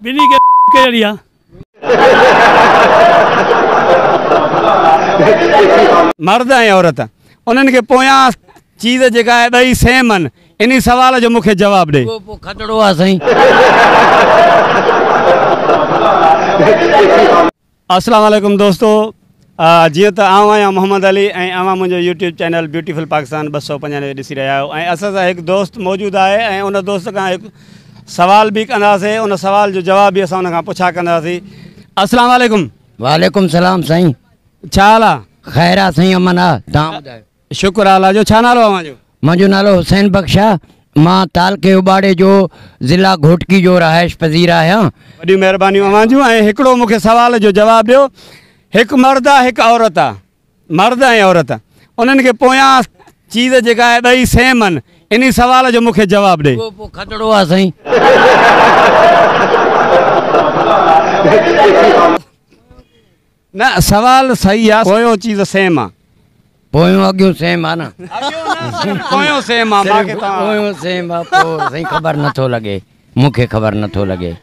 بني کي ڪير ڏيان. مرد ۽ عورت انهن کي پويان چيز جيڪا آهي ٻئي سيم آهن انهي سوال جو مون کي جواب ڏي. اهو پوء کٽڙو آهي سائين. اسلام عليڪم دوستو جيئن ته آئون آهيان محمد علي ۽ اوهان منهنجو يوٽيوب چينل بيوٽيفل پاڪستان ٻه سؤ پنجانوي ڏسي رهيا آهيو ۽ اسان سان هڪ دوست موجود آهي ۽ ان دوست کان هڪ سوال به ڪنداسي ان سوال جو جواب به اسان ان کان پڇا ڪنداسي اسلام عليڪم وعليڪم سلام سائين ڇا حال آ. خير آ سائين امن آ تهان ٻڌايو. شڪر اعليٰ جو ڇا نالو اوهان جو؟ مانجو نالو حسين بخش آ مان تعلقي اباڙي جو ضلع گهوٽڪي جو رهائش پذير آهيان. وڏيون مهربانيون اوهان جون ۽ هڪڙو مون کي سوال جو جواب ڏيو هڪ مرد آ هڪ عورت آ مرد ۽ عورت انهن کي پويان چيز جيڪا آهي ٻئي سيم ان انهي سوال جو مون کي جواب ڏي. اهو پوء کدڙو آ سائين. نه سوال صحيح آ پويون چيز سيم آ. پويون اڳيون سيم آ نه. اڳيون نه صرف پويون سيم آ باقي توهان. پويون سيم آ پو سائين خبر نه ٿو لڳي مون کي خبر نه ٿو لڳي.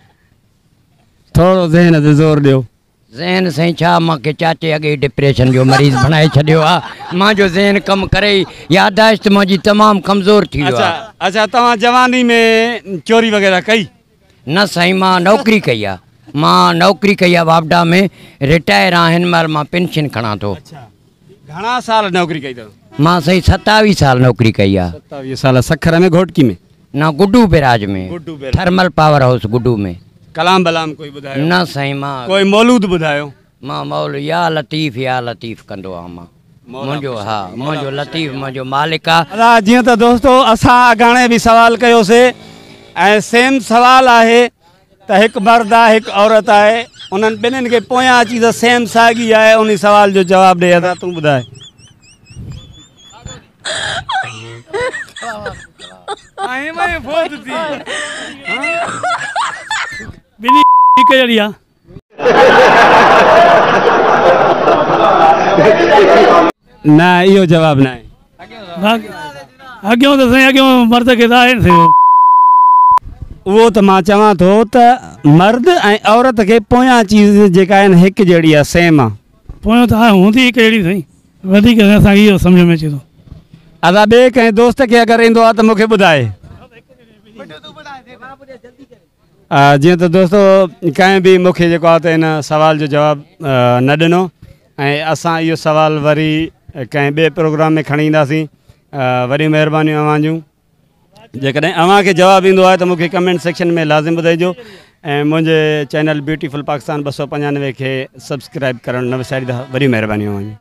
ٿورو ذهن تي زور ڏيو. ذهن سائين ڇا مان کي چاچي اڳي ئي ڊپريشن جو مريض بڻائي ڇڏيو آ مان جو ذهن ڪم ڪري ئي ياداشت مان جي تمام ڪمزور ٿي ويو آ. اچا اچا توهان جواني ۾ چوري وغيره ڪئي. نه سائين مان نوڪري ڪئي آ. مان نوڪري ڪئي آ واپڊا ۾ رٽائر آ هن مهل مان پينشن کڻان ٿو. اڇا گهڻا سال نوڪري ڪئي ٿو. مان سائين ستاويهه سال نوڪري ڪئي آ. ستاويهه سال سکر ۾ گهوٽڪي ۾. نه Guddu barrage ۾ Guddu barrage thermal power house Guddu ۾. ڪلام بلام ڪوئي ٻڌايو. نه سائين مان. ڪوئي مولود ٻڌايو. مان مئل يا لطيف يا لطيف ڪندو آ مان منهنجو ها منهنجو لطيف منهنجو مالڪ آ. ادا جيئن ته دوستو اسان اڳاڻي به سوال ڪيو سي ۽ سيم سوال آهي ته هڪ مرد آهي هڪ عورت آهي انهن ٻنهين کي پويان اچي ته سيم ساڳي آهي انهي سوال جو جواب ڏي ادا تون ٻڌاء. ٻنهي هڪ جهڙي آ. نه اهو جواب ناهي. اڳيون ته سائين اڳيون مرد کي ته آهي نه سائين اهو. اهو ته مان چوان ٿو ته مرد ۽ عورت کي پويان چيز جيڪا آهي نه هڪ جهڙي آهي سيم آهي. پويان ته آهي هوندي هڪ جهڙي سائين وڌيڪ سائين اسان کي اهو سمجهه ۾ اچي ٿو. ادا ٻئي ڪنهن دوست کي اگر ايندو آهي ته مون کي ٻڌائي. جيئن ته دوستو ڪنهن به مون کي جيڪو آهي ته ان سوال جو جواب نه ڏنو ۽ اسان اهو سوال وري ڪنهن ٻئي پروگرام ۾ کڻي اينداسين وڏيون مهربانيون اوهان جون جيڪڏهن اوهان کي جواب ايندو آهي ته مون کي ڪمينٽ سيڪشن ۾ لازم ٻڌائجو ۽ منهنجي چينل بيوٽيفل پاڪستان ٻه سؤ پنجانوي کي سبسڪرائب ڪرڻ نه وساريندا وڏيون مهربانيون اوهان جون